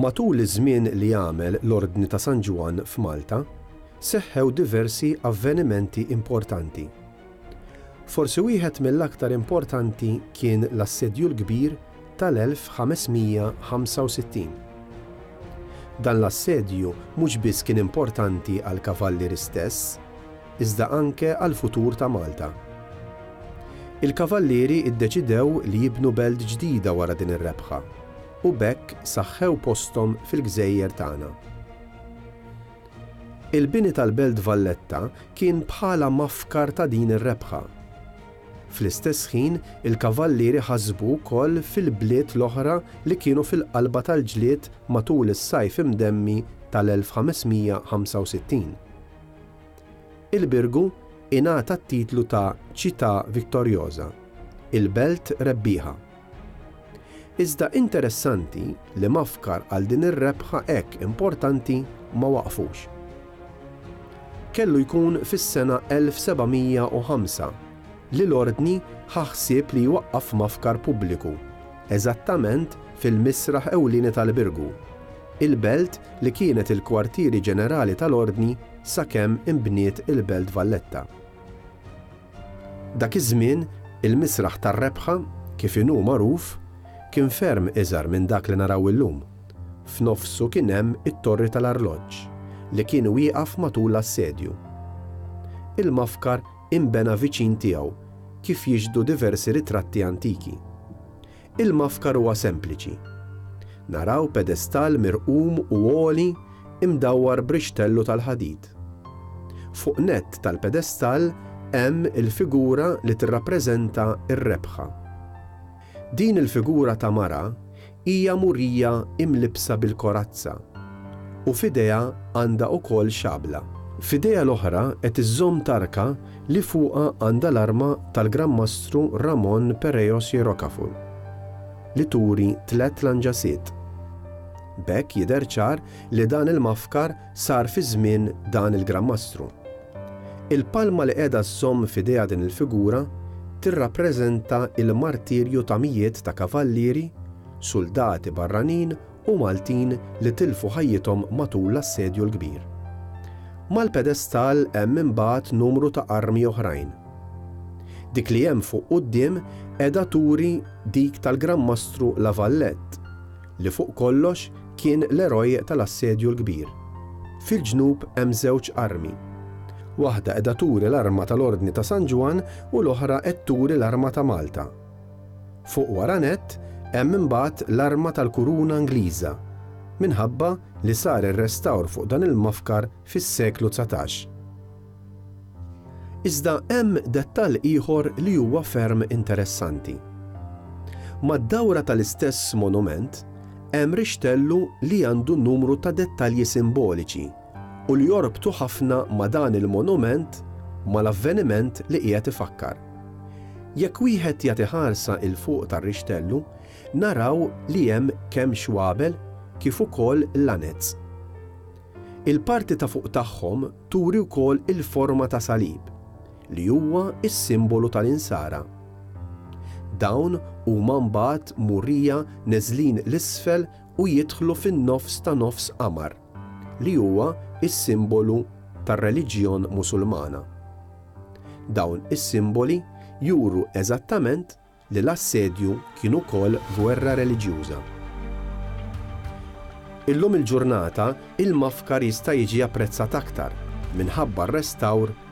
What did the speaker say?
Matul iż-żmien li għamel l-Ordni ta' San Ġwann f'Malta, seħħew diversi avvenimenti importanti. Forsi wieħed mill-aktar importanti kien l-Assedju l-Kbir tal-1565. Dan l-assedju mhux biss kien importanti għall-Kavalliri stess, iżda anke għall-futur ta' Malta. Il-Kavallieri ddeċidew li jibnu belt ġdida wara din ir-rebħa u b'hekk saħħew posthom fil-gżejjer tagħna. Il-bini tal-Belt Valletta kien bħala mafkar ta' din ir-rebħa. Fl-istess ħin il-Kavallieri ħasbu wkoll fil-bliet l-oħra li kienu fil-qalba tal-ġlied matul is-Sajf Imdemmi tal-1565. Il-Birgu ingħata t-titlu ta' Città Vittoriosa, il-Belt Rebbieħa. Iżda interessanti li mafkar għal din ir-rebħa hekk importanti ma waqfux. Kellu jkun fis-sena 1705 li l-Ordni ħa ħsieb li jwaqqaf mafkar pubbliku eżattament fil-misraħ ewlieni tal-Birgu. il-Belt li kienet il-kwartieri ġenerali tal-Ordni sakemm inbniet il-Belt Valletta. Dak iż-żmien, il-Misraħ tar-Rebħa, kif inhu magħruf, kien ferm iżgħar minn dak li naraw illum. F'nofsu kien hemm it-Torri tal-Arloġġ, li kien wieqaf matul l-assedju. Il-mafkar inbena viċin tiegħu, kif jixhdu diversi ritratti antiki. Il-mafkar huwa sempliċi. Naraw pedestall mirqum u għoli imdawwar b'rixtellu tal-ħadid. Fuq nett tal-pedestall hemm il-figura li tirrappreżenta r-rebħa. Din il-figura ta' mara hija murija imlibbsa bil-korazza u f'idejha għandha wkoll xabla. F'idejha l-oħra qed iżżomm tarka li fuqha għandha l-arma tal-Gran Mastru Ramon Pereiros y Rocafort, li turi tliet lanġasiet. B'hekk jidher ċar li dan il-mafkar sar fi żmien dan il-Gran Mastru. Il-palma li qiegħda żżomm f'idejha din il-figura tirrappreżenta l-martirju ta' mijiet ta' kavallieri, suldati barranin u Maltin li tilfu ħajjithom matul l-Assedju l-Kbir. Mal-pedestal hemm imbagħad numru ta' armi oħrajn. Dik li hemm fuq quddiem qiegħda turi dik tal-Gran Mastru La Valette, li fuq kollox kien l-eroj tal-Assedju l-Kbir. Fil-ġnub hemm żewġ armi. Waħda qiegħda turi l-arma tal-Ordni ta' San Ġwann u l-oħra qed turi l-arma ta' Malta. Fuq wara nett hemm imbagħad l-arma tal-kuruna Ingliża, minħabba li sar ir-restawr fuq dan il-mofkar fis-seklu dsatax. Iżda hemm dettall ieħor li huwa ferm interessanti. Mad-dawra tal-istess monument hemm rixtellu li għandu numru ta' dettalji simboliċi, u li jorbtu ħafna ma' dan il-monument mal-avveniment li qiegħed ifakkar. Jekk wieħed jagħti ħarsa 'il fuq tar-rixtellu, naraw li hemm kemm xwabel kif ukoll lanez. Il-parti ta' fuq tagħhom turi wkoll il-forma ta' salib, li huwa s-simbolu tal-Insara. Dawn huma mbagħad murija neżlin 'l isfel u jidħlu fin-nofs ta' nofs qamar. li huwa s-simbolu tar-reliġjon Musulmana. Dawn is-simboli juru eżattament li l-assedju kien ukoll gwerra reliġjuża. Illum il-ġurnata il-Mafkar jista' jiġi apprezzat aktar minħabba r-restawr